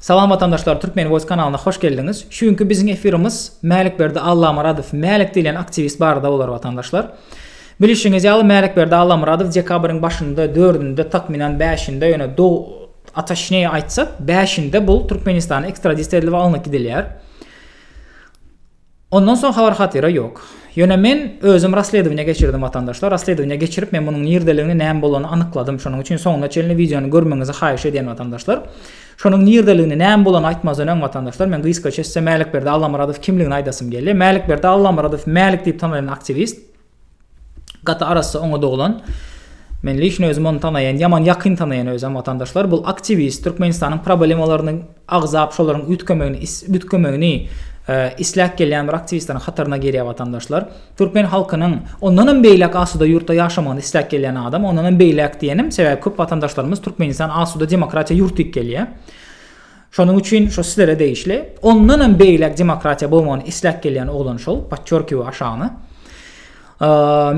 Salam watandaşlar Türkmen voice kanalyna hoş geldiňiz. Şu günki biziň efirimiz Mälikberdi Allamyradow Mälik diýlen aktiwist barada bolar watandaşlar. Bilişiňiz ýaly Mälikberdi Allamyradow dekabryň başynda dördünde takmynan bäşinde ýöne do ataşneýi aýtsak bäşinde bul Türkmenistana ekstradisiýa edilip alnyp gidilýär. Ondan soň habar hatyra ýok. Ýöne men özüm rassledowaniýa geçirdim watandaşlar, rassledowaniýa geçirip men munuň nirdeligini näme bolanyny anykladym şonuň üçin soňuna çenli wideony görmegiňizi haýyş edýän watandaşlar. Şonuň nirdeligini näme bolany aýtmazdan öň watandaşlar men gysgaça size Mälikberdi Allamyradow kimligini aýdasym gelýär. Mälikberdi Allamyradow Mälik diýip tanalan aktiwist. Gaty arassa oňat oglan. Men lişni özüm ony tanaýan, ýaman ýakyn tanaýan özem watandaşlar. Bul aktiwist, Türkmenistanyň problemalaryny agzap, şolaryň üýtgemegini, üýtgemegini isläp gelýän bir aktiwistlaryň hataryna girýär watandaşlar. Türkmen halkynyň ondan hem beýläk asuda ýurtda ýaşamagyny isläp gelýän adam, ondan hem beýläk diýenim, sebäbi köp watandaşlarymyz Türkmenistan asuda demokratiýa ýurt diýip gelýär. Şonuň üçin şo sizlere degişli. Ondanam beýläk demokratiýa bolmagyny isläp gelýän oglan şol, podçorkiwe aşagyna.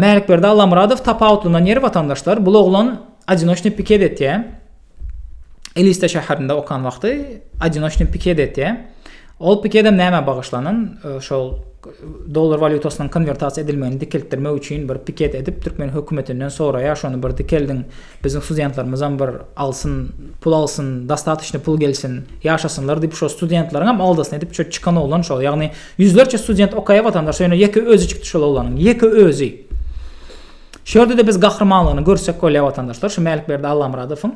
Mälikberdi Allamyradow tapawutlyndan ýeri watandaşlar, bul oglan adinoçny piket etýä. Eliste şäherinde okan wagty adinoçny piket etýä. Ol pikedem näme bagyşlanan? Şol dollar walýutasynyň konwertasiýa edilmegini dikeltdirmek üçin bir piket edip türkmen hökümetinden soraýa şony bir dikeldin Biziň studentlermizem bir alsyn, pul alsyn, dostatocnyý pul gelsin, ýaşasynlar diýip şo studentleriňem aldasyna edip şo çykan oglan şo. Ýagny ýüzlerçe student okaýa watandaş ýöne ýeke özi çykdy şol oglanyň. Ýeke özi. Şu ýerde-de biz gahrymanlygyny görsek bolýa watandaşlar şu Mälikberdi Allamyradowyň.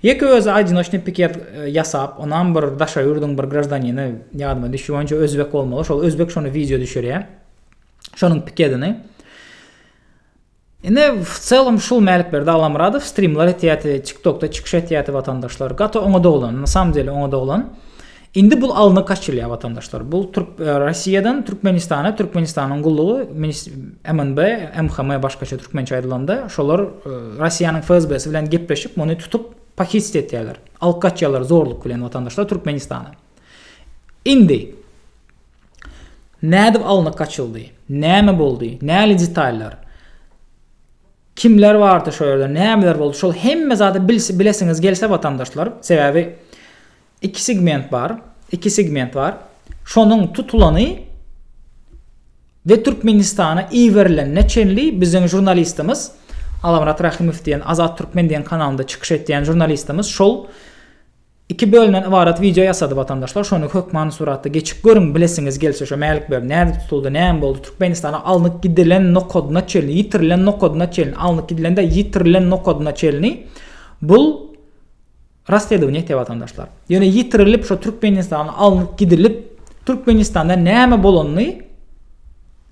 Ýeke özi aýdynoçnyý piket ýasap, onam bir daşary ýurduň bir graždanini, ýadyma düşdi boýunça özbek bolmaly, şol özbek şony wideo düşürýä. Şonuň pikedini. Ine wcelom şul Mälikberdi Allamyradow strimler etýäti tiktokda çykyş etýäti watandaşlar gaty oňa doglan na samym deli oňa doglan indi bul alny kaçylýa watandaşlar bul türk Rossiýadan Türkmenistana Türkmenistanyň gullugy minis MNB MHM başgaça türkmençe aýdylanda şolar Rossiýanyň FSBsi bilen gepleşip muny tutup pahitst etýäler alyp gaçýalar zorluk bilen watandaşlar Türkmenistana indi Nädip alnyp gaçyldy? Näme boldy? Näli detallar? Kimler bardy şo ýerde? Nämeler boldy? Şol hemme zady bilesiňiz gelse watandaşlar, sebäbi iki segment bar, iki segment bar. Şonuň tutulany we Türkmenistana iberilenine çenli biziň žurnalistimiz Alamyrat Rahimow diýen Azat Türkmen diýen kanalynda çykyş etýän žurnalistimiz şol Iki bölümden ybarat wideo ýasady watandaşlar şony hökmany suratda geçip görüň bilesiňiz gelse şo Mälik Berdi nädip tutuldy näme boldy Türkmenistana alnyk gidilen nokadyna çenli ýitirilen nokadyna çenli alnyk gidilen däl ýitirilen nokadyna çenli bul rassledownie etýär watandaşlar ýöne ýitirilip şo Türkmenistana alnyk gidilip Türkmenistanda näme bolanyny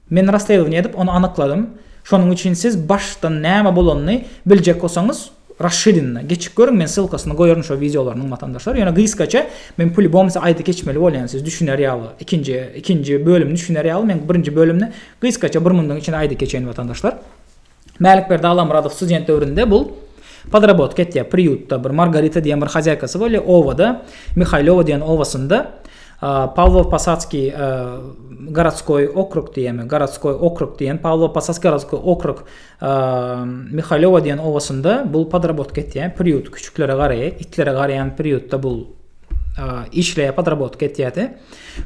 men rassledownie edip ony anykladym şonuň üçin siz başdan näme bolanyny biljek bolsaňyz Raşşidinna geçip görüň men ssylkasyny goýaryn şo wideolarynyň watandaşlar ýöne gysgaça men pulibom size aýdy geçmeli bolýan siz düşüner ýaly ikinji ikinji bölümini düşüner ýaly men birinji bölümini gysgaça bir mundan içinde aýdyp geçeýin watandaşlar Mälikberdi Allamyradow student döwründe bul podrobotka etýär priýutda bir Margarita diýen bir hazaýkasy bolýar obada Mihaýlowa diýen obasynda Pawlow Posatskiý gorodskoý okrug diýemi gorodskoý okrug diýen Pawlow Posatskiý gorodskoý okrug Mihailowa diýen obasynda bul podrobotka etýär, priýut küçüklere garaýar, itlere garaýan priýutda bul işleýär, podrobotka etýärdi.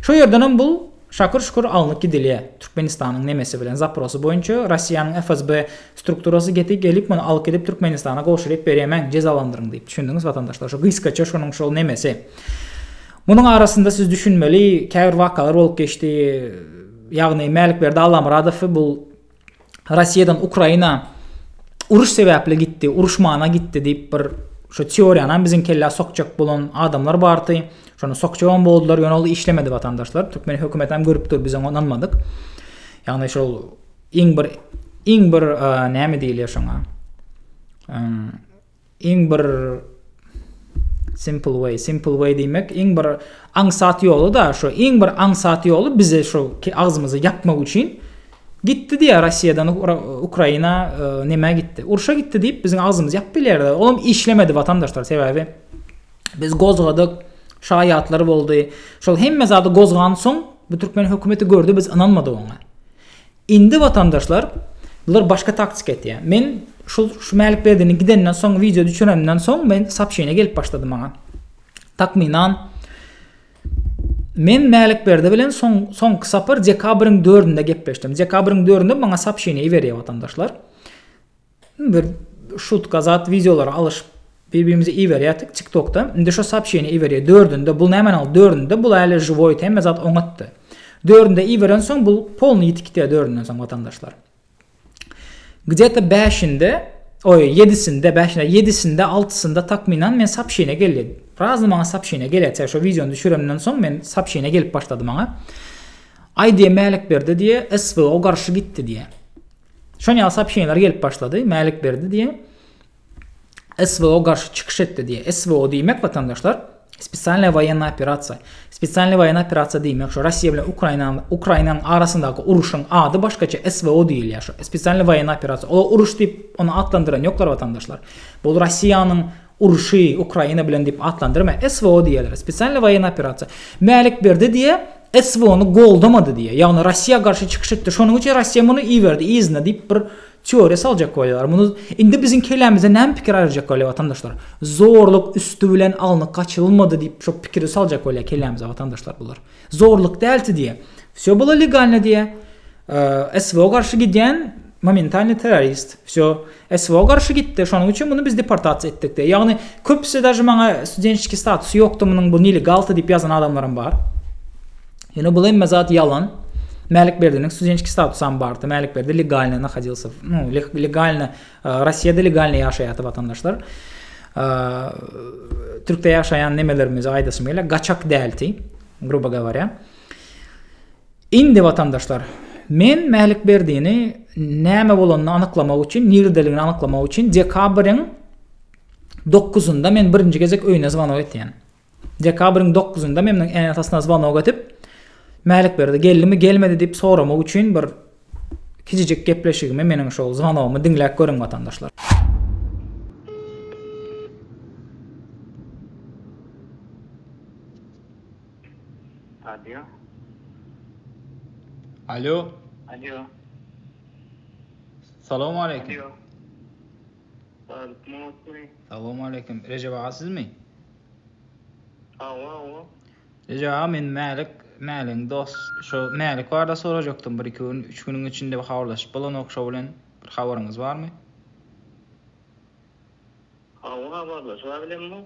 Şo ýerden hem bul şakyr-şukur alnyp gidilýär. Türkmenistanyň nemesi bilen zaprosy boýunça Russiýanyň FSB strukturasy gepi gelip muny alyp gidip Türkmenistana gowşuryp berýämäň, jezalandyryň diýip. Düşündiňiz watandaşlar, şo gysgaça şonuň şol nemesi. Munuň arasynda siz düşünmeli, käbir wakalar bolup geçdi. Ýagny Mälikberdi Allamyradowy bul Rossiýadan Ukraina uruş sebäpli gitdi, uruşmana gitdi diýip bir şu teoriýany hem biziň kellä sokjak bolan adamlar bardy. Şony sokjak hem boldular, ýöne ol işlemedi watandaşlar. Türkmen hökümeti hem görüp dur, biz oňa ynanmadyk. Ýagny şol iň bir iň bir e, näme diýilýär şoňa? Iň bir simple way, simple way diýmek iň bir aňsat ýoly-da, şo iň bir aňsat ýoly bize şo agzymyzy ýapmak üçin gitdi diýýär Rossiýadan Ukraina e, nämä gitdi? Urşa gitdi diýip biziň agzymyzy ýapyp bilýärdi. Olam işlemedi watandaşlar sebäbi biz gozgadyk, şaýatlar boldy. Şol hemme zady gozgansoň bu türkmen hökümeti gördi biz ynanmadyk oňa. Indi watandaşlar bular başga taktika etýär. Men şul şu Mälikberdiniň gidenden soň wideo düşürenden soň men sapşyne gelip başlady maňa. Takmynan men Mälikberdi bilen soň soňky sapar dekabryň 4-ünde gepleşdim. Dekabryň 4-ünde maňa sapşyne iberýär watandaşlar. Bir şutka zat wideolary alyşyp bir birimize iberýärdik tik tokda indi şo soobşeniýa iberýär dördünde bul nämäni alyp dördünde bul ähli žiwoýt hemme zat oňatdy dördünde iberen soň bul polnyý ýitip gitýär dördünden soň watandaşlar gde to bäşinde oý ýedisinde bäşinde ýedisinde altysynda takminan men soobşeniýa geldi razny maňa soobşeniýa gelýär şo wideony düşürenden soň men soobşeniýa gelip başlady maňa aýdýa mälik berdi diýe swo garşy gitdi diýe. Şon ýaly sopşeniýalar gelip başlady. Mälik berdi diýe SVO garşy çykyş etdi diýe. SVO diýmek watandaşlar Spesialna woýenna operasiýa. Spesialna woýenna operasiýa diýmek şu Russiýa bilen Ukraina Ukrainanyň arasyndaky uruşyň ady başgaça SVO diýilýär şu. Spesialna woýenna operasiýa. Ol uruş diýip ony atlandyran ýoklar watandaşlar. Bu Russiýanyň urşy Ukraina bilen diýip atlandyrma, SVO diýerler, Spesialnyý woýennyý operasiýa. Mälik Berdi diýe SVO-ny goldamady diýe, ýagny Russiýa garşy çykyş etdi, şonuň üçin Russiýa muny iberdi yzyna diýip bir teoriýa saljak bolýarlar. Muny indi biziň kellämizden näme pikir aýyrjak bolýar watandaşlar? Zorluk üsti bilen alnyp gaçyrylmady diýip şo pikiri saljak bolýar kellämize watandaşlar bular. Zorluk dälti diýe. Wsýo bolo legalno diýe. SVO garşy gidýän momentalnyý terrorist. Wsýo, SVO garşy gitdi, şonuň üçin muny biz deportasiýa etdik diýýär. Ýagny köpüsi daže maňa studentskiý statusy ýokdy munuň bu nelegalty diýip ýazan adamlaram bar. Ýöne bul hemme zat ýalan. Mälikberdiniň studentskiý statusam bardy. Mälikberdi legalny nahodilse, ну, legalny Rossiýada legalny ýaşaýardy watandaşlar. Türkde ýaşaýan nemelerimize aýdasym gelýär, gaçak däldi, grubo gawarýa. Indi watandaşlar, men Mälikberdini näme bolanyny anyklamak üçin, nirdeligini anyklamak üçin dekabryň dokuzynda men birinji gezek öýüne zwanok etýän. Dekabryň dokuzynda men onuň ene-atasyna zwanok edip, Mälikberdi geldimi, gelmedi diýip soramak üçin bir kijijik gepleşigimi, meniň şol zwanogymy diňläp görüň watandaşlar. Alýo. Alýo. Alýo. Salam aleýkum. Alýo. Salam aleýkum. Rejep aga sizmi? Awa, awa. Rejep aga men Mälik, Mäliň dost. Şu Mälik barada sorajakdym bir iki gün, üç günüň içinde habarlaşyp bolanok şo bilen. Bir habaryňyz barmy? Awa, habarlaşyp bilemok.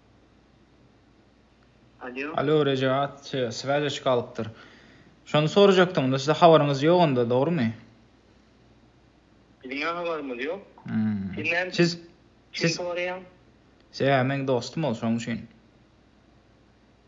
Alo Rejaat swaze çyk alypdyr. Şony sorajakdym, sizde habaryňyz ýok onda, dogrymy? Biziň habarymyz ýok. Sen siz kim soraýaň? Siz meň dostum ol şoň üçin.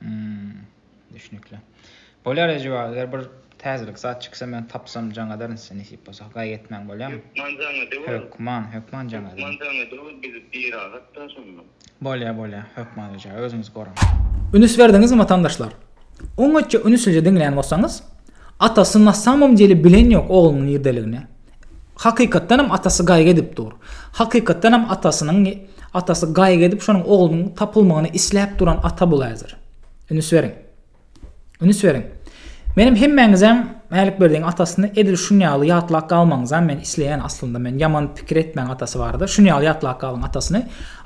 Hmm. Düşnükli. Bolýar Ejewaz, eger bir täzelik zat çyksa men tapsam jaň ederin size nesip bolsa. Gaýgy etmäň bolýamy? Hökman jaň edeweriň. Hökman, hökman jaň ederin. Hökman jaň edeweriň, biz biragatda şonda. Bolýar, bolýar. Hökman Ejewaz, özüňizi goraň. Ünüs berdiňizmi watandaşlar? Oňatja ünüslije diňlän bolsaňyz, Atasy nasamom deli bilen ýok oglunyň nirdeligini. Hakykatdan hem atasy gaýgy edip dur. Hakykatdan hem atasynyň atasy gaýgy edip şonuň oglunyň tapylmagyny isläp duran ata bul häzir. Ünüs beriň. Ünüs beriň. Menem hemmäňizem Mälikberdiň atasyny edil şun ýaly ýatlap galmagyňyzam men isleýän aslynda men ýaman pikir etmäň atasy barada şun ýaly ýatlap galyň atasyny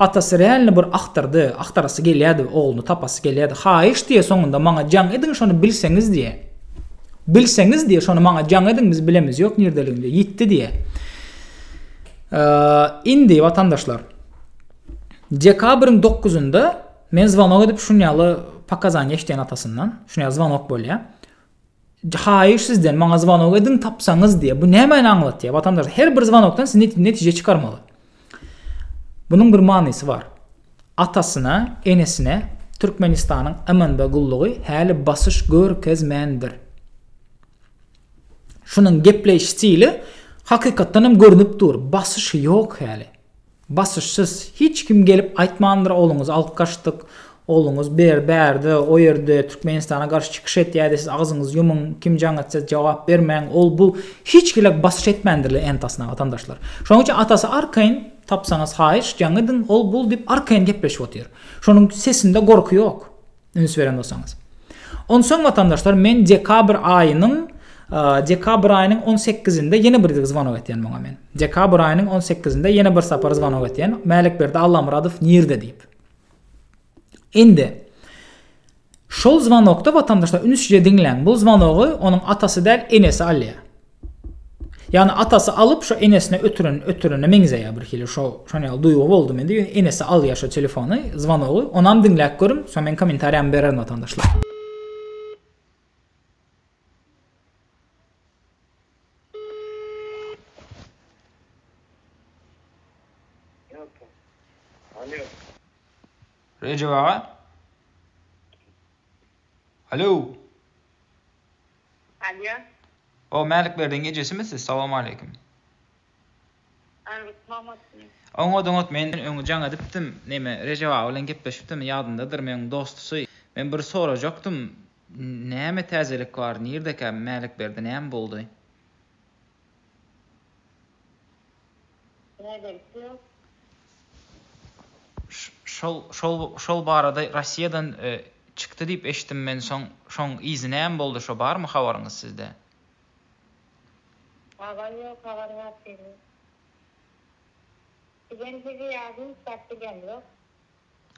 atasy realny bir agtardy agtarasy gelýädi ogluny tapasy gelýädi haýyş diýe soňunda maňa jaň ediň şony bilseňiz diýe. Bilseňiz diýe şony maňa jaň ediň biz bilemiz ýok nirdeligini diýe ýitdi diýe. Indi watandaşlar Dekabryň 9-ynda men zwanok edip şun ýaly pakazaniýa eşdýän atasyndan şun ýaly zwanok bolýa. Haýyş sizden maňa zwanok ediň tapsaňyz diýe. Bu nämäni aňlatýa watandaşlar her bir zwanokdan siz netije çykarmaly. Munuň bir manysy bar. Atasyna, enesine Türkmenistanyň MNB gullugy häli basyş görkezmändir. Şunuň gepleýiş stili hakykatdan hem görnüp dur, basyş ýok häli. Basyşsyz. Hiç kim gelip aýtmandyr ogluňyzy alyp gaçdyk, Ogluňyz bir bärde, o ýerde Türkmenistana garşy çykyş etýärdi, siz agzyňyzy ýumuň, kim jaň etse jogap bermäň, ol bu hiç hili basyş etmändirler entasyna watandaşlar. Şonuň üçin atasy arkaýyn, tapsaňyz haýyş, jaň ediň, ol bul diýip arkaýyn gepleşip otyr. Şonuň sesinde gorky ýok, üns beren bolsaňyz. Onsoň watandaşlar men dekabr aýynyň dekabr aýynyň on sekizinde ýene bir zwanok etýän muňa men. Dekabr aýynyň on sekizinde ýene bir sapar zwanok etýän, Mälikberdi Allamyradow nirde diýip. Indi şol zwanokda watandaşlar ünsje diňläň. Bu zwanogy onuň atasy däl, enesi alýar. Ýagny atasy alyp şo enesine ötüren ötürene meňzeýär bir hili şo şon ýaly duýgy boldy mende ýöne enesi alýar şo telefony zwanogy onam diňläp görüň soň meň kommentariýamy bererin watandaşlar. Rejep aga? Alo. Alo. O Mälik berdiň ejesimi siz? Salam aleyküm. Aleyküm salam. Oňa doňat men öňe jaň edipdim. Neme Rejep aga bilen gepleşipdim. Ýadyndadyr men dostusy. Men bir sorajakdym. Näme täzelik bar nirdekä Mälikberdi näme boldy. Näbersi ýok. Şol şol şol barada Rossiýadan çykdy diýip eşitdim men soň şoň yzy näme boldy şo barmy habaryňyz sizde. Habar ýok habar bar seniň. Bizem sizi ýazyň çap bilemzok.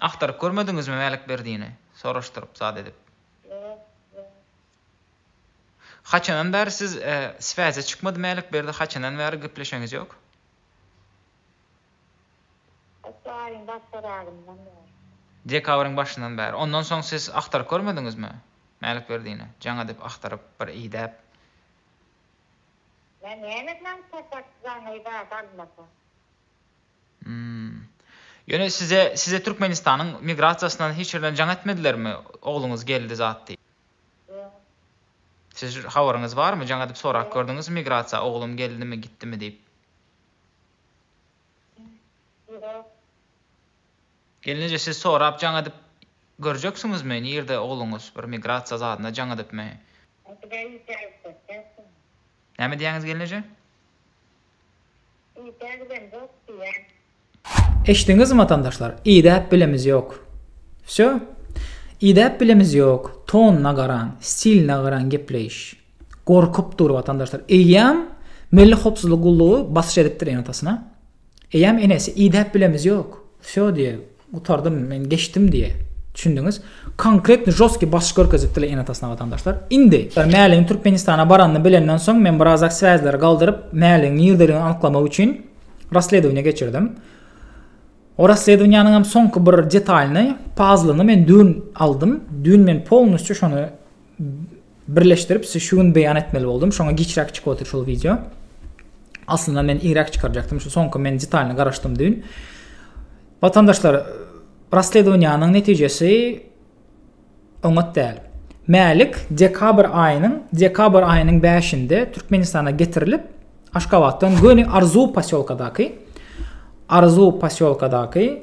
Agtaryp görmediňizmi Mälikberdini? soraşdyryp zat edip. Haçandan bäri siz sväze çykmady Mälikberdi haçandan bäri gepleşeňiz ýok? Haçan aýyň başlaragyndan bäri. Dekabryň başyndan bäri. Ondan soň siz agtaryp görmediňizmi Mälikberdini? Jaň edip agtaryp bir idäp. Men näme bilen tapar jaň edäp almasa. Ýöne size size Türkmenistanyň migrasiýasyndan hiç ýerden jaň etmedilermi? Ogluňyz geldi zat diýip. Siz habaryňyz barmy? Jaň edip sorap gördüňizmi migrasiýa oglum geldimi, gitdimi diýip? Gelneje siz sorap jaň edip görjeksiňizmi nirde ogluňyz bir migrasiýa zadyna jaň edipmi? Näme diýýäňiz gelneje? Idä bilemzok diýýän. Eşdiňizmi watandaşlar idäp bilemiz ýok. Wsýo. Idäp bilemiz ýok. Tonyna garaň, stiline garaň gepleýiş. Gorkup dur watandaşlar. Eýýäm Milli howpsuzlyk gullugy basyş edipdir enatasyna. Eýýäm enesi idäp bilemiz ýok. Wsýo diýýär. Gutardym men geçdim diye düşündiňiz konkretny žostki basyş görkezip dile ene atasyna watandaşlar indi Mäligiň Türkmenistana baranyny bilenden soň men birazak sväzleri galdyryp Mäligiň nirdeligini anyklamak üçin rasledowniýa geçirdim o rasledowniýanyň hem soňky bir detalyny pazlyny men dün aldym dün men polnusçy şony birleşdirip şu gün beýan etmeli boldum. Şoňa giçräk çykyp otyr şol wideo. Aslynda men irak çykarjakdym. Şu soňky men detalyny garaşdym dün. Watandaşlar Rasledowanyň netijesi oňat däl. Mälik dekabr aýynyň dekabr aýynyň 5-nde Türkmenistana getirilip, Aşgabatdan göni Arzu posýolkadaky Arzu posýolkadaky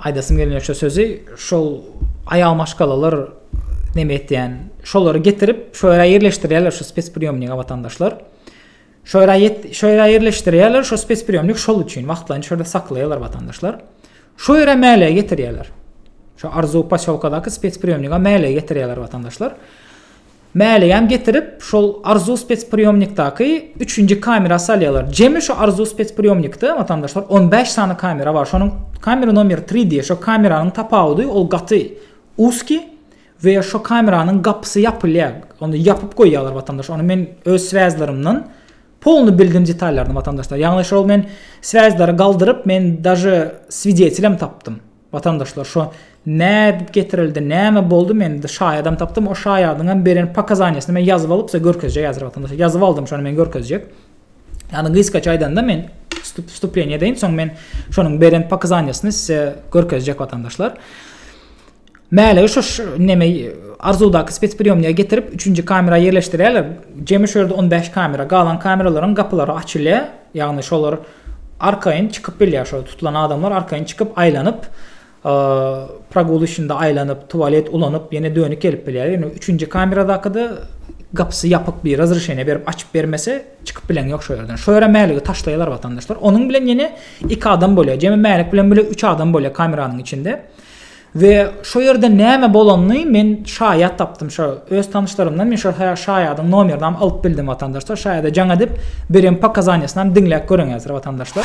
Aýdasym gelmeýär şu sözi. Şol aýal maşgalalar neme etýän? Şolary getirip, şu ýere ýerleşdirýärler şu spespriýomnika watandaşlar. Şu ýere şu ýere ýerleşdirýärler şu spespriýomnik şol üçin wagtlaýyn şu ýerde saklaýarlar watandaşlar. Şu ýere mäle getirýärler. Şu Arzu poselkadaky spespriýomnika mäle getirýärler watandaşlar. Mäleýän getirip şol Arzuw spespriýomnikdaky üçünji kamera salýarlar. Jemi şu Arzuw spespriýomnikde watandaşlar on bäş sany kamera bar. Şonuň kamera nomer tri diýýär. Şo kameranyň tapawudy ol gaty uski we şo kameranyň gapysy ýapylýar. Ony ýapyp goýýarlar watandaş. Ony men öz sväzlarymdan polny bildim detallaryny watandaşlar. Ýagny şol men sväzlary galdyryp men daže swidetilem tapdym. Watandaşlar şo nädip getirildi näme boldy men indi şaýadam tapdym o şaýadyňam beren pakazaniýasyny men ýazyp alyp size görkezjek häzir watandaşlar ýazyp aldym şony men görkezjek ýagny gysgaça aýdanda men wstupleniýe edeýin soň men şonuň beren pakazaniýasyny size görkezjek watandaşlar Mäle şu neme arzudaky spetspriyomniýa getirip 3-nji kamera ýerleşdirýärler. Jemi şu ýerde 15 kamera, galan kameralaryň gapylary açylýar. Ýagny şolar Arkaýyn çykyp bilýär şol tutulan adamlar arkaýyn çykyp aýlanyp pragul içinde aýlanyp tualet ulanyp ýene dönük gelip bilýär ýöne üçünji kameradakyda gapysy ýapyk bir razryşeniýe berip açyp bermese çykyp bilen ýok şo ýerden şo ýere mäligi taşlaýalar watandaşlar onuň bilen ýene iki adam bolýar jemi mälik bilen bile üç adam bolýar kameranyň içinde. We şo ýerde näme bolanyny men şaýat tapdym şo öz tanyşlarymdan men şo şaýadyň nomerini alyp bildim watandaşlar şaýada jaň edip beren pokazaniýasyny diňläp göreň häzir watandaşlar.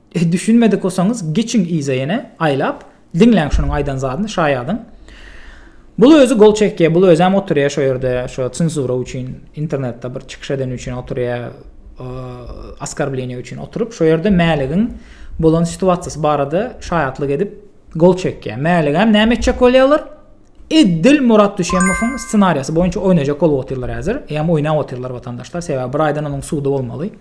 Düşünmedik bolsaňyz geçiň yza ýene aýlap diňläň şunuň aýdan zadyny şaýadyň. Bul özi gol çekýä bul özem oturýa şo ýerde şo cenzura üçin internetde bir çykyş edeni üçin oturýa askarbleniýa üçin oturyp şo ýerde mäligiň bolan situasiýasy barada şaýatlyk edip gol çekýä mäligem näme etjek bolýa olar eddil murat düşemowyň ssenariýasy boýunça oýnajak bolup otyrlar häzir ýam oýnap otyrlar watandaşlar sebäbi bir aýdan onuň sudy bolmaly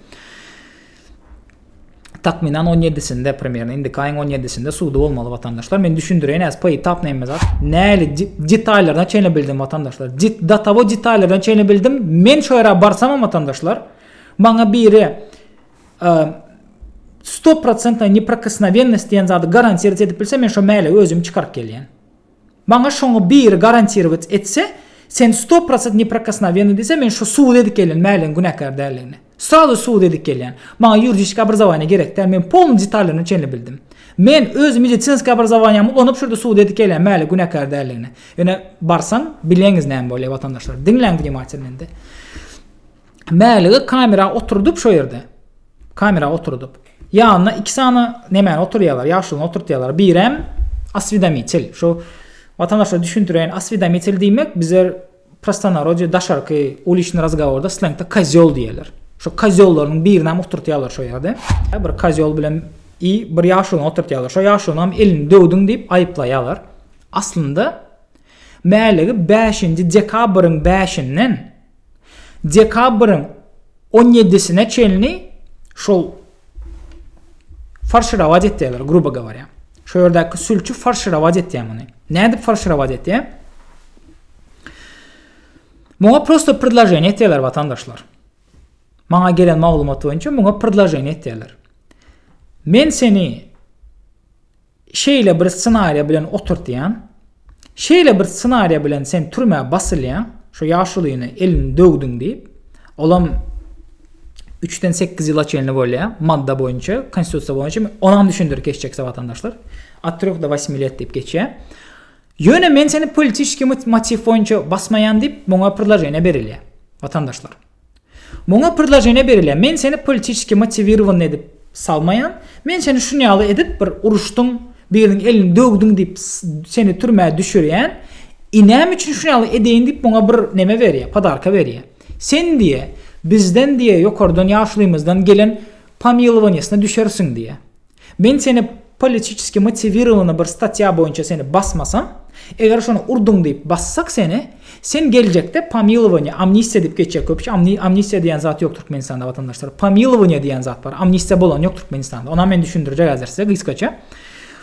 Takmynan on ýedisinde, primýerno, indiki aýyň on ýedisinde sudy bolmaly watandaşlar. Men düşündireýin, äs py tap näme zat. Näli detaýlaryna çenli bildim watandaşlar. Dit datawo detaýlaryna çenli bildim. Men şu ýere barsam hem watandaşlar, maňa biri stopprocentna neprikosnowennost diýen zady garantiýa edip bilse, men şu mäle özüm çykaryp gelýän. Maňa şoňa biri garantirować etse, sen sto prosent neprikosnovennyý diýse, men şu subut edip gelýän Mäligiň günäkär däldigini. Srazu subut edip gelýän. Maňa ýuridiskiý obrazowaniýa gerek däl, men polnyý detallaryna çenli bildim. Men öz medisinskiý obrazowaniýamy ulanyp şu ýerde subut edip gelýän Mäligiň günäkär däldigini. Ýöne barsaň, bileňiz näme bolýar watandaşlar. Diňläň wnimatilno indi. Mälige kamera oturdyp şo ýerde. Kamera oturdyp. Ýanyna iki sany nemäni oturýarlar, ýaşulyny oturtýarlar. Birem aswedamitel. Şo watandaşlara düşündireýin, aswedamitel diýmek bizler prostonarodýe daşarky uliçny razgaworda slengde kozýol diýerler. Şo kozýollaryň birini hem oturtýarlar şo ýerde. Bir kozýol bilen i bir ýaşulyny oturtýarlar. Şo ýaşulyny hem elini döwdüň diýip aýyplaýarlar. Aslynda Mälige 5-nji dekabryň 5-inden dekabryň on ýedisine çenli şol farşirowat etýärler, grubo gawarýa. Şu ýerdäki sülçi farşirowat etýär muny. Nädip farşirowat etýär? Muňa prosta predloženiýe etýärler watandaşlar. Maňa gelen maglumat boýunça muňa predloženiýe etýärler. Men seni Şeýle bir ssenariýa bilen oturtýan. Şeýle bir ssenariýa bilen sen türmä basylýaň, şo ýaşulyny elini döwdüň diýip. Olam üçden sekiz ýyla çenli bolýar, madda boýunça, Konstitusiýa boýunça. Onam düşündirip geçjekse watandaşlar. Od treh do wasmi let diýip geçýär. Ýöne men seni politiski motiw boýunça basmaýan diýip, muňa predloženiýe berilýär, watandaşlar. Muňa prdlaženiýa berilýär. Men seni politiçeski motiwirowanyny edip salmaýan. Men seni şun ýaly edip bir uruşdyň, biriniň elini döwdüň diýip seni türmä düşürýän. I näme üçin şun ýaly edeýin diýip muňa bir neme berýär, podarka berýär. Sen diýe, bizden diýe ýokardan ýaşulymyzdan gelen pomilowaniýasyna düşersiň diýe. Men seni politiçeski motiwirowany bir statýa boýunça seni basmasam, eger şony urduň diýip bassak seni, sen geljekde pomilowaniýa, amnistiýa diýip geçýär köpüsi, amnistiýa diýen zat ýok Türkmenistanda watandaşlar, pomilowaniýa diýen zat bar, amnistiýa bolan ýok Türkmenistanda, onam men düşündirjek häzir size gysgaça.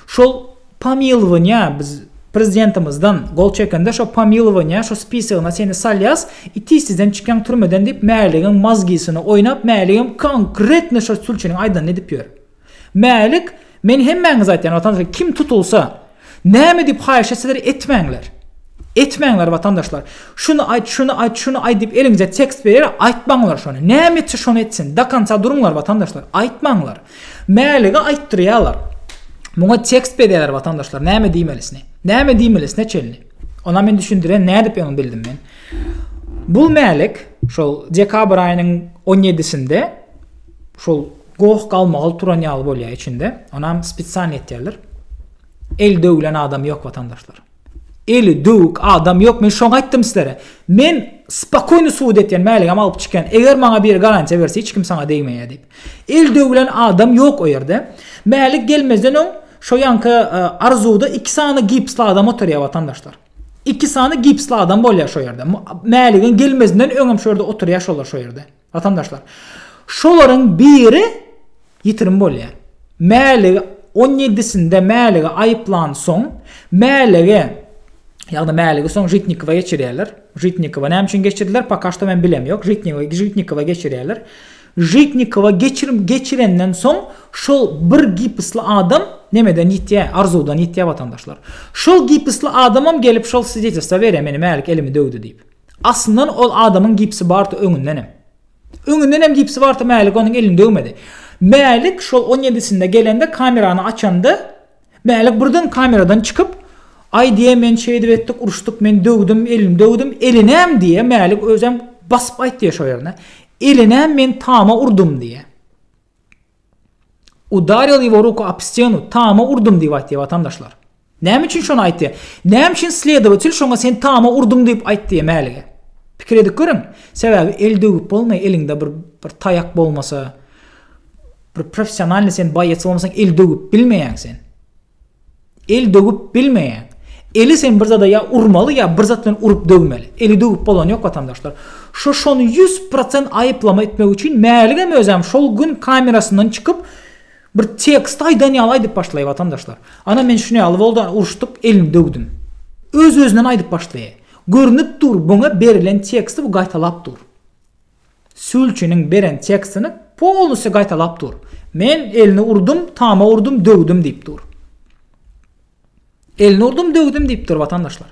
Şol. Pomilowaniýa biz prezidentimizden gol çekende şo pomilowaniýa şo spisogyna seni salýas i tiz tizden çykýaň türmeden diýip mäligiň mazgisyny oýnap mäligem konkretno şo sülçiniň aýdanyny edip ýör. Mälik men hemmäňize aýtýan watandaşlar kim tutulsa näme diýip haýyş etseler etmäňler. Etmäňler watandaşlar. Şuny aýt şuny aýt şuny aýt diýip eliňize tekst berýär aýtmaňlar şony. Näme etse şony etsin. Dokonca duruňlar watandaşlar. Aýtmaňlar. Mälige aýtdyrýarlar. Muňa tekst bezýärler watandaşlar näme diýmelisini. Näme diýmelisine çenli. Ona men düşündiren nädip öň bildim men. Bu mälik şol dekabr aýynyň 17-sinde şol goh galmagal turan ýaly bolýar içinde. Onam spesialny etýärler. El döwlen adam ýok watandaşlar. Eli döwük adam ýok men şoňa aýtdym sizlere. Men spokoýny sud etýän mäligem alyp çykýan. Eger maňa biri garantiýa berse hiç kim saňa degmeýär diýip. El döwülen adam ýok o ýerde. Mälik gelmezden öň şo ýanky arzuwda iki sany gipsli adam oturýar watandaşlar. Iki sany gipsli adam bolýar şo ýerde. Mäligiň gelmezinden öňem şo ýerde oturýar şolar şo ýerde. Watandaşlar, şolaryň biri ýitirim bolýar. Mäligi on ýedisinde mäligi aýyplansoň, mäligi, ýagny mäligi soň Žitnikowa geçirýärler. Žitnikowa näme üçin geçirdiler, poka şto men bilem ýok. Žitnikowa, Žitnikowa geçirýärler. Žitnikowa geçir, geçirenden soň şol bir gipisli adam nemeden ýitýär, arzuwdan ýitýär watandaşlar. Şol gipisli adamam gelip şol swidetelswa berýär, meni mälik elimi döwdi diýip. Aslyndan ol adamyň gipsi bardy öňündenem. Öňündenem gipsi bardy Mälik onuň elini döwmedi. Mälik şol on ýedisinde gelende kamerany açanda Mälik birden kameradan çykyp Aý diýýä men şeýdip etdik uruşdyk men döwdüm elini döwdüm elinäm diýýä Mälik özem basyp aýtýa şo ýerine elinäm men tama urdum diýýä. Udaril ýego ruku op stenu, tama urdum diýip aýtýar watandaşlar. Näme üçin şony aýtýar? Näme üçin sledowatel şoňa sen tama urduň diýip aýt diýýär mälige? Pikir edip görüň. Sebäbi el döwüp bolmaý, eliňde bir bir taýak bolmasa, bir professionalny sen boýets bolmasaň el döwüp bilmeýäň sen. El döwüp bilmeýän. Eli sen bir zada ýa urmaly ýa bir zat bilen urup döwmeli. Eli döwüp bolany ýok watandaşlar. Şu şony ýüz prosent aýyplama etmek üçin Mäligem özem şol gün kamerasyndan çykyp bir tekst aýdan ýaly aýdyp başlaýar watandaşlar. Ana men şuny ýaly boldy uruşdyk elini döwdüm. Öz özünden aýdyp başlaýar. Görnüp dur buňa berilen teksti bu gaýtalap dur. Sülçiniň beren tekstini polnusy gaýtalap dur. Men elini urdum, tama urdum, döwdüm diýip dur. Elini urdum, döwdüm diýip dur watandaşlar.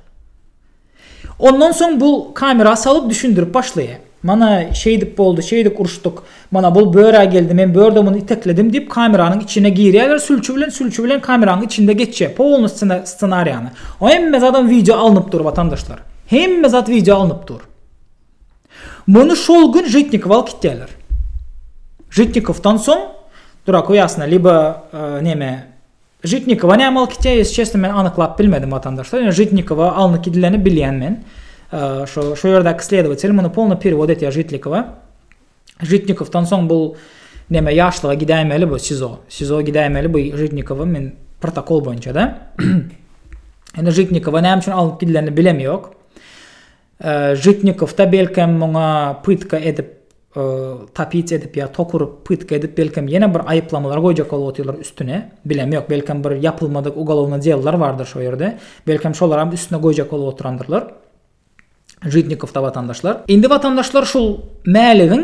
Ondan soň bu kamera salyp düşündirip başlaýar. Mana şeýdip boldy, şeýdik uruşdyk. Mana bul börä geldi, men börde muny itekledim diýip kameranyň içine girýärler sülçi bilen, sülçi bilen kameranyň içinde geçýär polny ssenariýany. Hemme zadam wideo alnyp dur watandaşlar. Hemme zat wideo alnyp dur. Muny şol gün Žitnikowa alyp gitýärler. Žitnikowdan soň Duraku ýasyna liba neme Žitnikowa näme alyp gitýär, ýesi çesne men anyklap bilmedim watandaşlar. Ýöne Žitnikowa alnyp gidileni bilýän men. Şo şo ýerdäki sledowatel muny polny perewod etýär Žitnikowa. Žitnikowdan soň bu neme ýaşlyga gidäýmeli bu SIZO. SIZO gidäýmeli bu Žitnikowa men protokol boýunça-da. Ýöne Žitnikowa näme üçin alnyp gidilenini bilem ýok. Žitnikowda belkem muňa pytka edip tapic edip ýa tok urup pytka edip belkem ýene bir aýyplamalar goýjak bolup otyrlar üstüne bilem ýok belkem bir ýapylmadyk ugolovnyý dellar bardyr şo ýerde belkem şolaram üstüne goýjak bolup oturandyrlar Žitnikowda watandaşlar. Indi watandaşlar şul mäligiň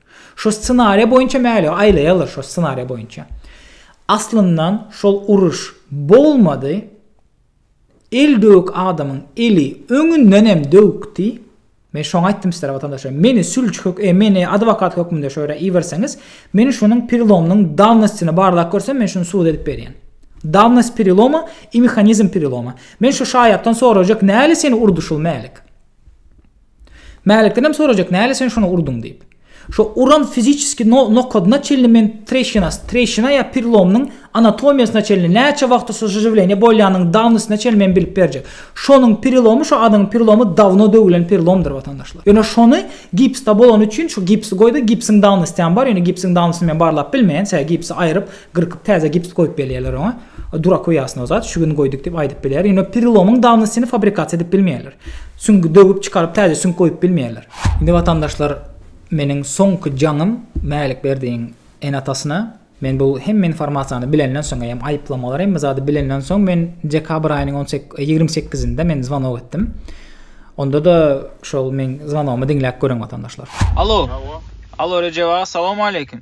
Şo ssenariýa boýunça mäli aýlaýarlar şo ssenariýa boýunça. Aslyndan şol uruş bolmady. El döwük adamyň eli öňünden hem döwükdi. Men şoňa aýtdym sizlere watandaşlar. Meni sülçi hök, e, meni adwokat hökmünde şo ýere iberseňiz, men şonuň perilomynyň dawnostyny barlap görsem, men şuny subut edip berýän. Dawnost periloma i mehanizm periloma. Men şo şaýatdan sorajak, näle seni urdy şul mälik? Mälikdenem sorajak, näle sen şony urduň diýip. Şo uran fiziçeski nokadyna çenli men treşinas, treşina ýa pirlomnyň anatomiýasyna çenli, näçe wagtda şo žživleniýe bolýanyň dawnysyna çenli men bilip berjek. Şonuň prilomy şo adyň prilomy dawno döwülen pirlomdyr watandaşlar. Ýöne şony gipsda bolany üçin şo gipsi goýdy, gipsiň dawnysy hem bar, ýöne gipsiň dawnysyny men barlap bilmeýän, sebäbi gipsi aýryp Gyrkyp täze gips goýup belýärler oňa. Durak we ýasnaw zat, şu gün goýduk diýip aýdyp bilýär. Ýöne perilomyň dawnostyny fabrikasiýa edip bilmeýärler. Süňgi döwüp çykaryp täze süňk goýup bilmeýärler. Indi watandaşlar meniň soňky jaňym Mälikberdiň ene-atasyna men bu hemme informasiýany bilenden soň eýem aýyplamalar hemme zady bilenden soň men dekabr aýynyň on sek ýigrimi sekizinde men zwanok etdim. Onda-da şol meň zwanogymy diňläp görüň watandaşlar. Alo. Alo Rejep aga Salowmaleýkim.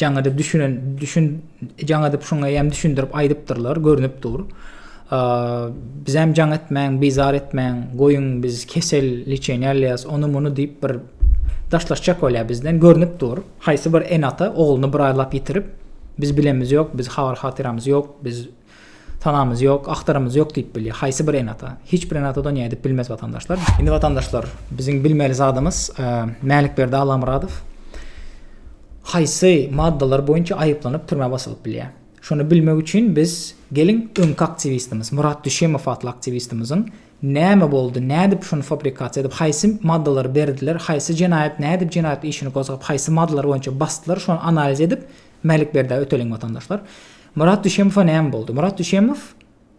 Jaňada düşünen, düşün, jaňadyp şuňa ýam düşündirip aýdypdyrlar, görnüp dur. Bizem jaň etmäň, bizar etmäň, goýuň biz kesel liçeni alýas, ony muny diýip bir daşlaşjak bolýar bizden, görnüp dur. Haýsy bir ene-ata ogluny bir aýlap ýitirip, biz bilemiz ýok, biz habar-hatyramyz ýok, biz Sanamyz ýok, agtaramyz ýok diýip bilýär. Haýsy bir ene-ata? Hiç bir ene-ata donyýa edip bilmez watandaşlar. Indi watandaşlar, biziň bilmeli zadymyz, Mälikberdi Allamyradow haýsy maddalar boýunça aýyplanyp türmä basylyp bilýär? Şony bilmek üçin biz geliň öňki aktiwistimiz, Murat Düşemow atly aktiwistimiziň näme boldy, nädip şuny fabrikasiýa edip, haýsy maddalary berdiler, haýsy jenaýat, nädip jenaýat işini gozgap, haýsy maddalar boýunça basdylar, şony analiz edip Mälikberdä öteliň watandaşlar. Myrat Düşemowa näme boldy? Myrat Düşemow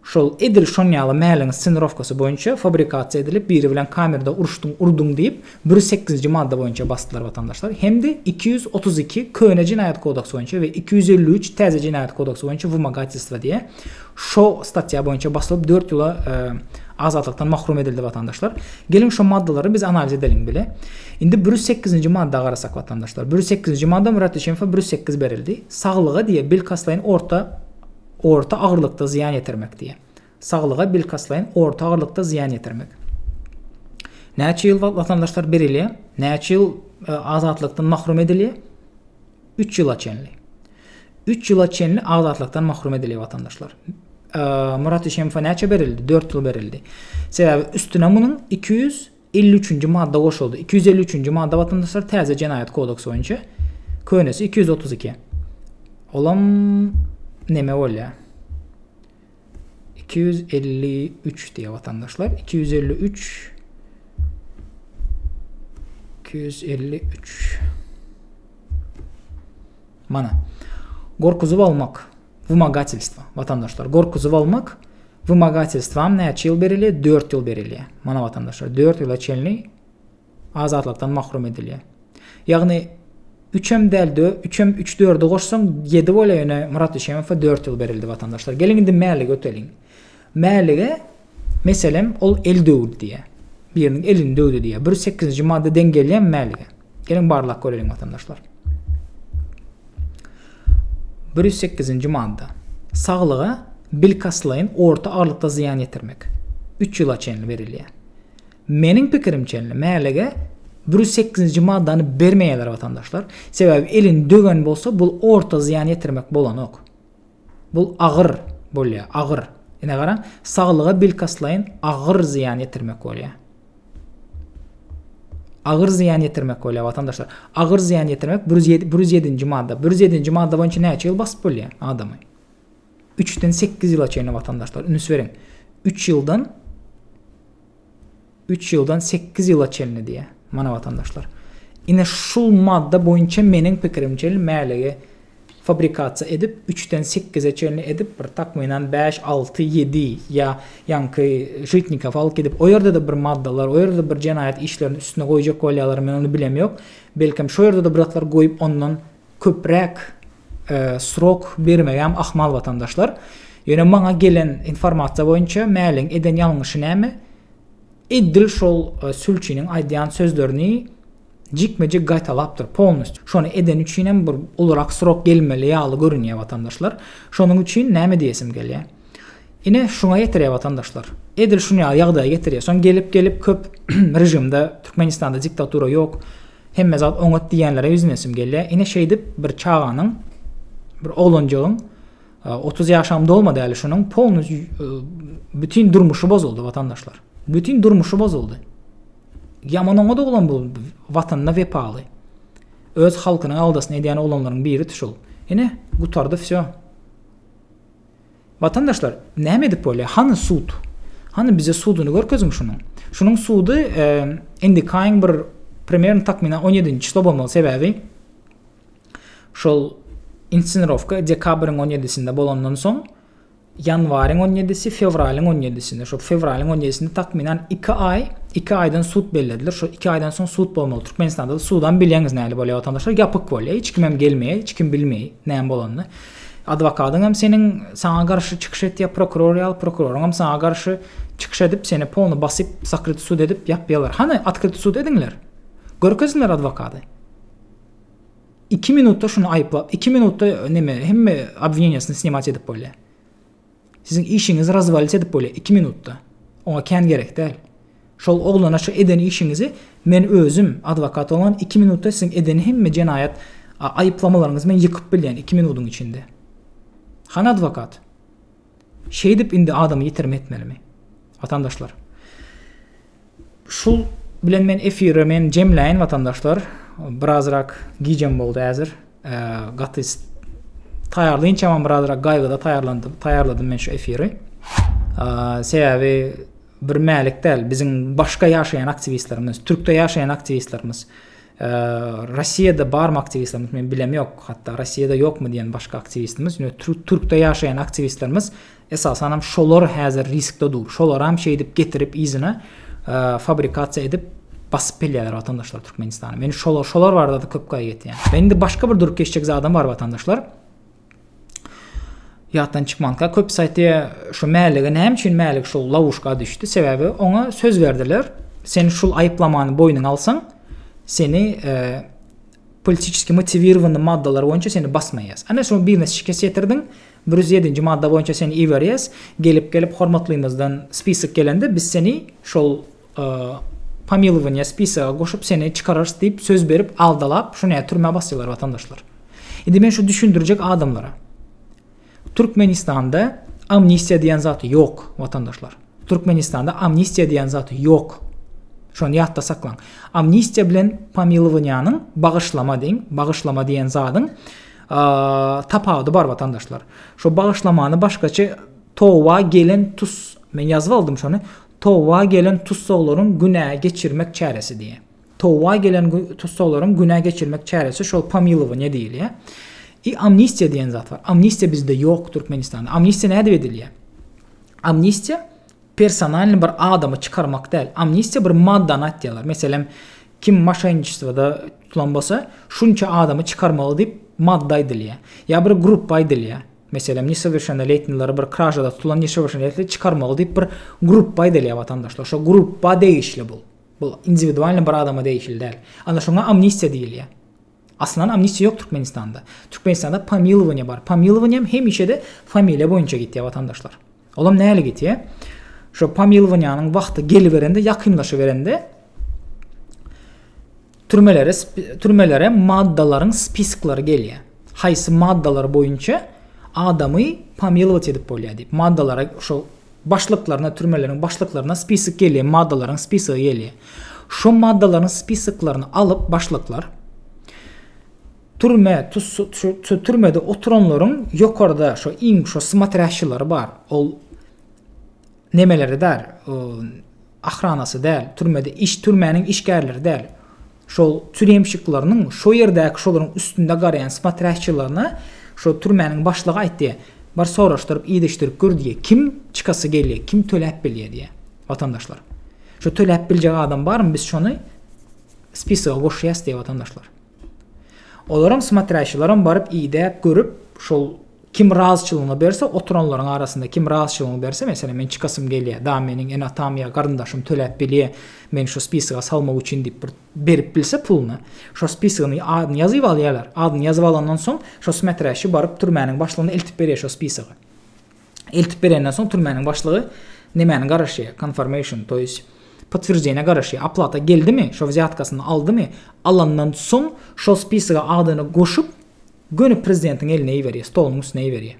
şol edil şon ýaly mäliň scenirowkasy boýunça fabrikasiýa edilip biri bilen kamerada uruşdyň urduň diýip bir sekizinji madda boýunça basdylar watandaşlar hem-de iki ýüz otuz iki köne jenaýat kodaksy boýunça we iki ýüz elli üç täze jenaýat kodaksy boýunça wymogatelstwa diýe şo statýa boýunça basylyp dört ýyla azatlykdan mahrum edildi watandaşlar geliň şo maddalary biz analiz edeliň bile indi bir ýüz sekizinji madda garasak watandaşlar bir ýüz sekizinji madda myrat düşemowa bir ýüz sekiz berildi Saglyga diýe bilkastlaýyn orta orta agyrlykda zyýan ýetirmek diýe. Saglyga bilkastlaýyn orta agyrlykda zyýan ýetirmek. Näçe ýyl watandaşlar berilýär? Näçe ýyl e, azatlykdan mahrum edilýär? 3 ýyla çenli. 3 ýyla çenli azatlykdan mahrum edilýär watandaşlar. Murat Işemowa näçe berildi? 4 ýyl berildi. Sebäbi üstüne munuň 200 Elli üçünji madda goşuldy. Iki ýüz elli üçünji madda watandaşlar täze jenaýat kodeksi boýunça könesi iki ýüz otuz iki. Olam neme bolýa? Iki ýüz elli üç diýe watandaşlar. Iki ýüz elli üç. Iki ýüz elli üç. Mana. Gorkuzyp almak. Wymogatelstwo, watandaşlar, gorkuzy bolmak, wymogatelstwam näçe ýyl berilýär? Dört ýyl berilýär. Mana watandaşlar, dört ýyla çenli azatlykdan mahrum edilýär. Ýagny üçem däl, dö, üçem üç dördi goşsaň ýedi bolýar, ýöne Myrat Düşemowa dört ýyl berildi watandaşlar. Geliň indi mäli göteliň. Mälige, meselem, ol el döwdi diýýär. Biriniň elini döwdi diýýär. Bir sekizinji madda deň gelýärmi mälige? Geliň barlak göreliň watandaşlar. Bir ýüz sekizinji madda. Saglyga bilkastlaýyn orta aralykda zyýan ýetirmek. Üç ýyla çenli berilýär. Meniň pikirimçe, mälige bir ýüz sekizinji maddany bermeýärler watandaşlar. Sebäbi elini döwen bolsa, bu orta zyýan ýetirmek bolanok. Bu agyr bolýar, agyr. Ine garaň, saglyga bilkastlaýyn agyr zyýan ýetirmek bolýar. Agyr zyýan ýetirmek bolýar watandaşlar. Agyr zyýan ýetirmek 107-nji madda. 107-nji madda boýunça näçe ýyl basyp bolýar adamy? 3-den 8 ýyla çenli watandaşlar, üns beriň. 3 ýyldan Üç ýyldan sekiz ýyla çenli diýýär. Mana watandaşlar. Ine şul madda boýunça meniň pikirimçe mälegi fabrikasiýa edip üçden sekize çenli edip bir takmynan bäş alty ýedi ýa ýaňky Žitnikow alyp gidip o ýerde-de bir maddalar o ýerde-de bir jenaýat işlerini üstüne goýjak bolýalar men ony bilemýok belkem şo ýerde-de bir zatlar goýup ondan köpräk srok bermegem ahmal watandaşlar. Ýöne maňa gelen informasiýa boýunça Mäliň eden ýalňyşy näme? Edil şol e, sülçiniň aýdýan sözlerini jikme-jik gaýtalapdyr polnist. Şony edeni üçin hem bir ulurak srok gelmeli ýaly görünýär watandaşlar. Şonuň üçin näme diýesim gelýär? Ine, şuňa getirýär watandaşlar. Edil şun ýaly ýagdaýa getirýär. Soň gelip gelip köp režimde Türkmenistanda diktatura ýok. Hemme zat oňat diýýänlere ýüzünesim gelýär. Ine şeýdip bir çaganyň bir oglanjygyň 30 ýaşam dolmady äli şunuň polny bütin durmuşy bozuldy watandaşlar. Bütin durmuşy bozuldy. Ýaman oňa doglan bu watanyna wepaly. Öz halkynyň aldasyny edýän oglanlaryň biri şul. Ine gutardy wsýo. Watandaşlar, näme edip bolýar? Hany sud? Hany bize suduny görkeziň şunuň. Şunuň sudy indikaýyň bir primerno takmynan 17-nji çyslo bolmaly, sebäbi şol inscenirowka dekabryň 17-sinde bolandan soň ýanwaryň 17-si, fewralyň 17-sinde, şo fewralyň 17-sinde takmynan 2 aý, 2 aýdan sud bellediler. Şo 2 aýdan soň sud bolmaly. Türkmenistanda sudam bilýäňiz nähili bolýar watandaşlar, ýapyk bolýar. Hiç kimem gelmeýär, hiç kim bilmeýär näme bolanyny. Adwokadyňam seniň saňa garşy çykyş etýär prokuror ýaly prokuroryňam saňa garşy çykyş edip seni polny basyp sakryty sud edip ýapýalar hany otkryty sud ediňler görkeziňler adwokady iki minutda şuny aýyplap iki minutda neme hemme obwineniýasyny snimat edip bolýar. Siziň işiňizi razwalit edip bolýar iki minutda. Oňa kän gerek däl. Şol oglana şu eden işiňizi men özüm adwokat bolan iki minutda siziň eden hemme jenaýat aýyplamalaryňyzy men ýykyp bilýän iki minudyň içinde. Hany adwokat? Şeýdip indi adamy ýitirim etmelimi? Watandaşlar. Şul bilen men efiri men jemläýin watandaşlar. Birazrak gijem boldy äzir. Gaty taýýarlaýynçamam birazrak gaýgyda taýýarlandym, taýýarladym men şu efiri. Sebäbi bir mälik däl, biziň başga ýaşaýan aktiwistlerimiz, türkde ýaşaýan aktiwistlerimiz, Russiýada barmy aktiwistlerimiz men bilem ýok, hatda Russiýada ýokmy diýen başga aktiwistimiz, ýöne türkde ýaşaýan aktiwistlerimiz Esasanam şolar häzir riskde dur. Şolaram şeýdip getirip yzyna fabrikasiýa edip basyp gelýärler watandaşlar Türkmenistana. Men şolar şolar barada köp gaýgy etýän. Men indi başga bir durup geçjek zadam bar watandaşlar. Ýatdan çykmanka köp saýty şu mälige näme üçin mälik şu lawuşka düşdi? Sebäbi oňa söz berdiler. Sen şul aýyplamany boýnuňa alsaň, seni e, politiski motiwirowany maddalar boýunça seni basmaýas. Ana şu birine şikes ýetirdiň, Bir ýüz ýedinji madda boýunça seni iberýäs, gelip gelip hormatlymyzdan spisok gelende biz seni şol pomilowaniýa spisoga goşup seni çykararys diýip söz berip aldalap şo ne türmä basýalar watandaşlar. Indi men şu düşündirjek adamlara. Türkmenistanda amnistiýa diýen zat ýok watandaşlar. Türkmenistanda amnistiýa diýen zat ýok. Şony ýatda saklaň. Amnistiýa bilen pomilowaniýanyň bagyşlama deň, bagyşlama diýen zadyň Tapawudy bar watandaşlar. Şo bagyşlamany başgaça Towa gelen tus men ýazyp aldym şony. Towa gelen tussaglaryň günä geçirmek çäresi diýýär. Towa gelen tussaglaryň günä geçirmek çäresi şol pomilowaniýe diýilýär. I amnistiýa diýen zat bar. Amnistiýa bizde ýok Türkmenistanda. Amnistiýa nädip edilýär? Amnistiýa personalny bir adamy çykarmak däl, amnistiýa bir maddany aýtýarlar, meselem, kim moşenniçestwoda tutulan bolsa, şunça adamy çykarmaly diýip madda aýdylýar, ýa bir gruppa aýdylýar, meselem, nesowýerşennoletnilary bir kražada tutulan nesowýerşennoletni çykarmaly diýip bir gruppa aýdylýar watandaşlar, şo gruppa degişli bul, bul indiwidualny bir adama degişli däl, ana şoňa amnistiýa diýilýär. Aslynda amnistiýa ýok Türkmenistanda. Türkmenistanda pomilowaniýa bar. Pomilowaniýam hemişe-de familiýa boýunça gitýär watandaşlar. Olam näle gitýär? Şo pomilowaniýanyň wagty geliberende, ýakynlaşyberende türmelere türmelere maddalaryň spisklary gelýär. Haýsy maddalar boýunça adamy pomilować edip bolýar diýip. Maddalara şo başlyklaryna, türmeleriň başlyklaryna spisok gelýär, maddalaryň spisogy gelýär. Şo maddalaryň spisoklaryny alyp başlyklar türme, şu türmede oturanlaryň ýokarda şo iň şo smatrýaşçylary bar. Ol nemelerde bär, ahranasy däl, türmede iş türmäniň işgärleri däl, şol türýemşiklarynyň şo ýerdäki şolaryň üstünde garaýan smatrýaşçylaryna şo türmäniň başlygy aýt diýýär, bir soraşdyryp idişdirip gör diýýär, kim çykasy gelýär, kim töläp bilýär diýýär, watandaşlar. Şo töläp biljek adam barmy biz şony spisaga goşýas diýýär watandaşlar. Olaram smatrýaşilaram baryp idäp görüp şol kim razyçylygyny berse oturanlaryň arasynda kim razyçylygyny berse meselem men çykasym gelýä da meniň ene atam ýa garyndaşym töläp bilýä meni şu spisaga salmak üçin diýip bir berip bilse puluny şo spisagyny adyny ýazyp alýalar adyny ýazyp alandan soň şo smatrýaşi baryp türmäniň başlygyna eltip berýär şo spisagy. Eltip berenden soň türmäniň başlygy nemäni garaşýar? Konformation, to ýeсть potwierdzeniýe garaşýar. Aplata geldimi? Şo wzýatkasyny aldymy? Alandan soň şol spisoga adyny goşup göni prezidentiň eline iberýär, stoluň üstüne iberýär.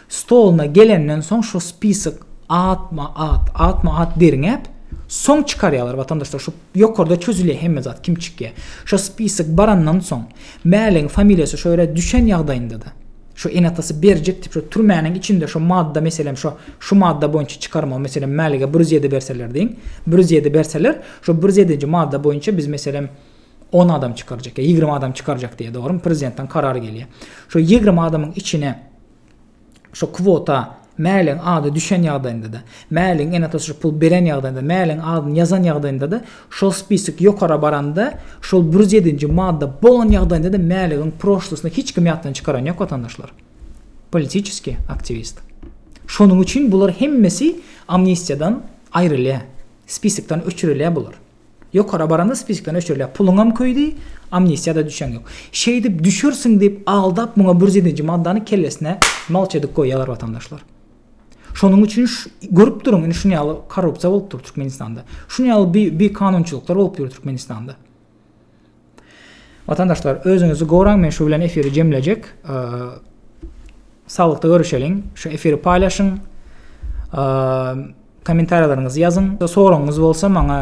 Stoluna gelenden soň şo spisok atma at, atma at derňäp soň çykarýarlar watandaşlar şu ýokarda çözülýär hemme zat kim çykýar. Şo spisok barandan soň mäligiň familiýasy şo ýere düşen ýagdaýynda-da Şo enatasy berjek diýip şo türmäniň içinde şo madda meselem şo şu madda boýunça çykarmagy meselem Mälige bir ýüz ýedi berseler diýiň bir ýüz ýedi berseler şo bir ýüz ýedinji madda boýunça biz meselem on adam çykarjak ýa ýigrimi adam çykarjak diýe dogrymy prezidentden karar gelýä şo ýigrimi adamyň içine şo kwota Mäligiň ady düşen ýagdaýynda-da, Mäligiň ene-atasy şu puly beren ýagdaýynda-da, Mäligiň adyny ýazan ýagdaýynda-da, şol spisok ýokara baranda, şol bir ýüz ýedinji madda bolan ýagdaýynda-da Mäligiň proşlusyny hiç kim ýatdan çykaran ýok, watandaşlar. Politiçeskiý aktiwist. Şonuň üçin bular hemmesi amnistiýadan aýrylýar. Spisokdan öçürilýär bular. Ýokara baranda spisokdan öçürilýär. Puluňam köýdi, amnistiýada düşeň ýok. Şeýdip düşersiň diýip aldap muňa bir ýedinji maddany kellesine malç edip goýýarlar watandaşlar. Şonuň üçin görüp duruň indi şuny ýaly korrupsiýa bolup dur Türkmenistanda. Şuny ýaly bi bi kanunçylyklar bolup ýör Türkmenistanda. Watandaşlar özüňizi goraň men şu bilen efiri jemlejek. Saglykda görüşeliň. Şu efiri paýlaşyň. Kommentariýalaryňyzy ýazyň. Soragyňyz bolsa maňa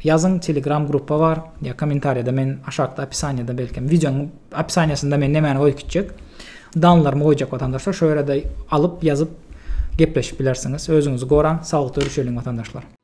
ýazyň telegram gruppa bar ýa kommentariýada men aşakda opisaniýada belkem wideonyň opisaniýasynda men nämäni goýup gitjek danlarymy goýjak watandaşlar şo ýerde alyp ýazyp gepleşip bilersiňiz özüňizi goraň saglykda görüşeliň watandaşlar.